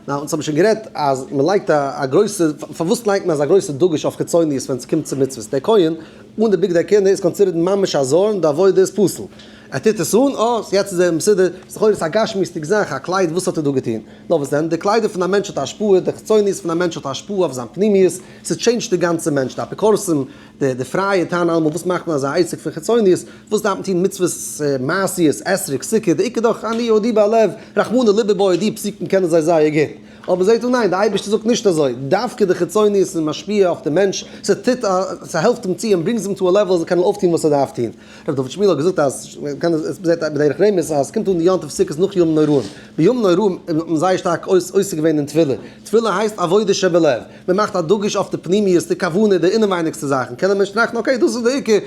נאר אונז האבן שוין גערעדט אז מען לייגט א גרויסע, פארוואס לייגט מען אזא גרויסע דגוש אויף חיצוניות ווען ס'קומט צו מצוות? דער כהן אן די בגדי כהונה איז קאנסידערט ממש א זר און די עבודה איז פסול. ער טוט עס אן, אה, סאו יעצט איז ער מסודר. ס'איז לכאורה עס א גשמיות'דיג זאך, א קלייד, וואס האט ער דא געטון? נאר וואס דען? די קליידער פון א מענטש האט השפעה, די חיצוניות פון א מענטש האט השפעה אויף זיין פנימיות, ס'טשעינדזשט די גאנצע מענטש, די אפיקורסים די פרייע טענה'ן אלעמאל וואס מאכט מען אזא עסק פון חיצוניות, וואס דארף מען טון מצוות, מעשיות, אתרוג, סוכה, די עיקר דאך אני יהודי בלב, רחמנא ליבא בוי, די פסוקים קענען זיי זייער גוט, אבער זעט אן, ניין, די אייבערשטער זאגט נישט אזוי, דווקא די חיצוניות איז משפיע אויף די מענטש, ס'טוט, ס'העלפט אים צו און ברענגט אים צו א לעוול אז ער קען אויפטון וואס ער דארף טון. ר' דוד שמיעל האט געזאגט אז, מ'קען עס, מ'זעט בדרך רמז אז ס'קומט אן יום טוב סוכות נאך ימים נוראים, בימים נוראים האט מען זייער שטארק עוסק געווען אין תפילה, תפילה הייסט עבודה שבלב, מען מאכט א דגוש אויף די פנימיות, די כוונה, די אינעווייניגסטע זאכן, קען א מענטש טראכטן אקעי דאס איז די עיקר,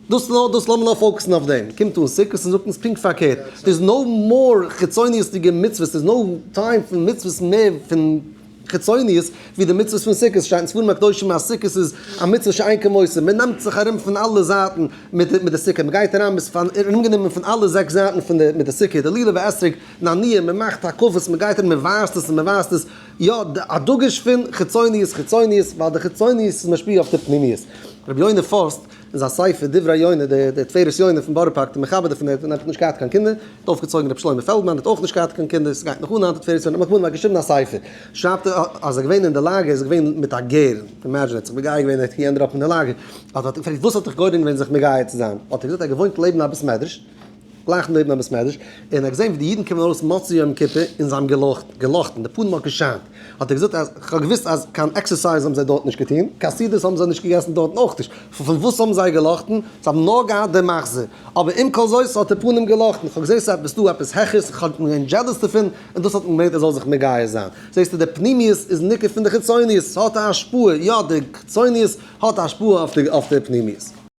דאס איז נאר דאס לאמיר נאר פאוקעסן אויף דעם, קומט אן סוכות און זאגט אונז פונקט פארקערט, ס'איז נאו מאר חיצוניות'דיגע מצוות, ס'איז נאו טיים פון מצוות מער פון חיצוניות ווי די מצוות פון סוכות, שטייט אין ספרים הקדושים אז סוכות איז א מצוה שאין כמותו, מען נעמט זיך ארום פון אלע זייטן מיט מיט די סוכה, מען גייט אריין מען איז ארומגענומען פון אלע זעקס זייטן פון די מיט די סוכה, די לולב האתרוג, נאניע, מען מאכט הקפות, מען גייט ארום מען ווייזט עס און מען ווייזט עס, יא, א דגוש פון חיצוניות חיצוניות, ווייל די חיצוניות איז משפיע אויף די פנימיות. רבי יונה פורסט, אין זיין ספר דברי יונה, דער תפארת יונה פון בארא פארק, דער מחבר דערפון, ער האט נישט געהאט קיין קינדער, האט אויפגעצויגן רבי שלמה פעלדמאן, האט אויך נישט געהאט קיין קינדער, עס גייט נאך אן היינט, תפארת יונה האט נאך געווארן, ער האט געשריבן א ספר, שרייבט ער אז ער איז געווען אין די לאגער, ער איז געווען מיט א גר, אימעדזשין ער האט זיך מגייר געווען ער ענד אפ אין די לאגער, אז מען האט אים געפרעגט וואס האט דיך גורם געווען זיך מגייר צו זיין, האט ער געזאגט ער האט געוואוינט לעבן א בית מדרש, גלייך נעבן א בית מדרש, און ער האט געזען ווי די אידן קומען ארויס מוצאי יום כיפור, און זיי האבן געלאכט, געלאכטן, די פנים האט געשיינט, האט ער געזאגט אז כ'האב געוואוסט אז קיין עקסערסייז האבן זיי דארט נישט געטון, קיין סעודות האבן זיי נישט געגעסן דארטן אויך נישט, פון וואס האבן זיי געלאכטן? זיי האבן נאר געהאט דעם מחזה, אבער עם כל זאת האט די פנים געלאכטן, כ'האב געזען ס'איז עפעס דא עפעס העכערס, איך האב געווען דזשעלעס דערפון, און דאס האט אים געברענגט ער זאל זיך מגיה זיין. זעסטו, די פנימיות איז ניכר פון די חיצוניות, ס'האט א השפעה, יא די חיצוניות האט א השפעה אויף די פנימיות.